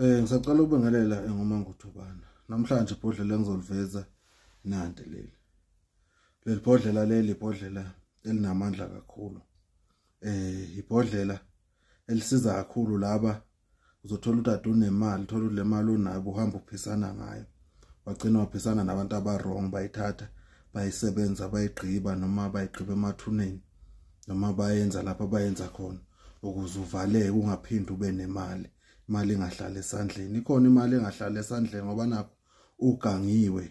Eh ngisacela ukubingelela engumanguthobana. Namhlanje ibhodlela engizoliveza nande leli. Leli bhodlela leli ibhodlela elinamandla kakhulu. Eh ibhodlela elisiza kakhulu laba uzothola udade unemali, thola le mali onayo uhamba uphisana ngayo. Wagcina waphisana nabantu abarong bayithatha bayisebenza bayigqiba noma bayigqiba emathuneni. noma bayenza lapha bayenza khona ukuze uvaleke ungaphindi ube nemali imali engahlala esandleni ikhona imali engahlala esandleni ngoba nakho ugangiwe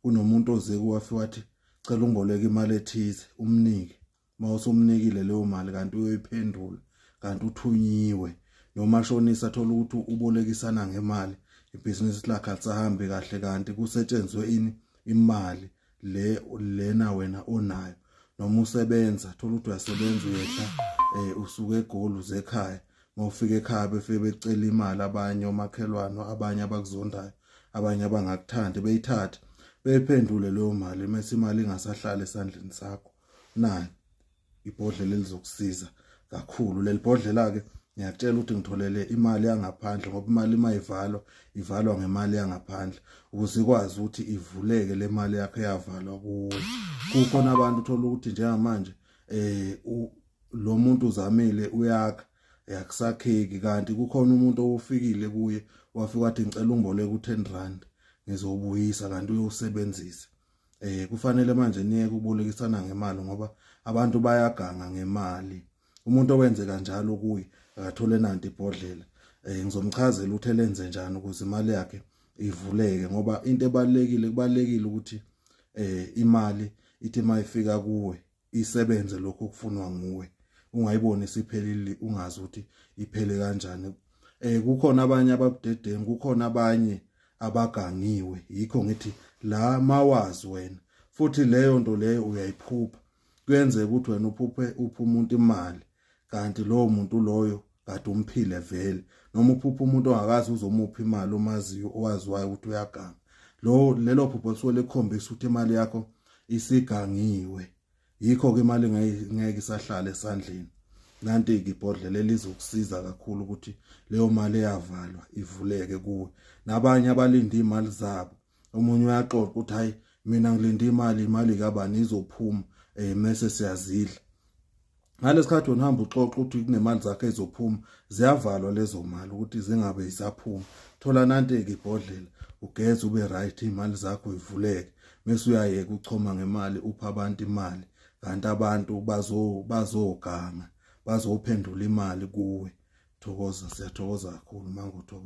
kunomuntu oze kuwafi wathi cela ungiboleke imali ethize umnike uma usumnikile leyo mali kanti uyoyiphendula kanti uthunyiwe noma shonisa thola ukuthi ubolekisana ngemali ibhizinisi lakhe alisahambi kahle kanti kusetshenzwe ini imali le lena wena onayo noma usebenza thola ukuthi uyasebenza uyehla eh usuke egoli uze ekhaya mawufika ekhaya befike becela imali abanye omakhelwane abanye abakuzondayo abanye abangakuthandi beyithatha beyiphendule leyo mali mase imali ingasahlali esandleni sakho nayo ibhodlela elizokusiza kakhulu leli bhodlela ke ngiyakutshela ukuthi ngitholele imali yangaphandle ngoba imali uma ivalwa ivalwa ngemali yangaphandle ukuze ikwazi ukuthi ivuleke le mali yakho eyavalwa kuwe kukhona abantu uthola ukuthi njengamanje eh lo muntu uzamile uyakha yakusakheki kanti kukhona umuntu owofikile kuye wafika wathi ngicela ungiboleke u10 rand ngizobuyisa kanti uyosebenzisa eh kufanele manje niye kubolekisana ngemali ngoba abantu bayaganga ngemali umuntu owenze kanjalo kuyi akathole nanti ibhodlela eh ngizomchazela ukuthi elenze njani ukuze imali yakhe ivuleke ngoba into ebalekile kubalekile ukuthi eh imali ithi mayifika kuwe isebenze lokho okufunwa nguwe ungayiboni siphelile ungazi ukuthi iphele kanjani eh kukhona abanye ababudedengu kukhona abanye abagangiwe yikho ngithi la mawazi wena futhi leyo nto leyo uyayiphupha kuyenzeka ukuthi wena uphuphe upha umuntu imali kanti lowo muntu loyo kade umphile vele noma uphupha umuntu ongakazi uzomupha imali omaziyo owaziwayo ukuthi uyaganga lo lelo phupho lisuke likhombisa ukuthi imali yakho isigangiwe yikho ke imali ngeke isahlale esandleni nanti ibhodlela elizokusiza kakhulu ukuthi leyo mali eyavalwa ivuleke kuwe nabanye abalinde imali zabo omunye uyaxoxa ukuthi hayi mina ngilinde imali imali kabani izophuma eh mase siyazidla ngalesikhathi wena uhamba uxoxa ukuthi kunemali zakhe ezophuma ziyavalwa lezo mali ukuthi zingabe isaphuma thola nanteke ibhodlela ugeze ube right imali zakho ivuleke mase uyayeka uchoma ngemali upha abantu imali kanti abantu bazo bazoganga bazophendula imali kuwe thokoza siyathokoza kakhulu mangothoba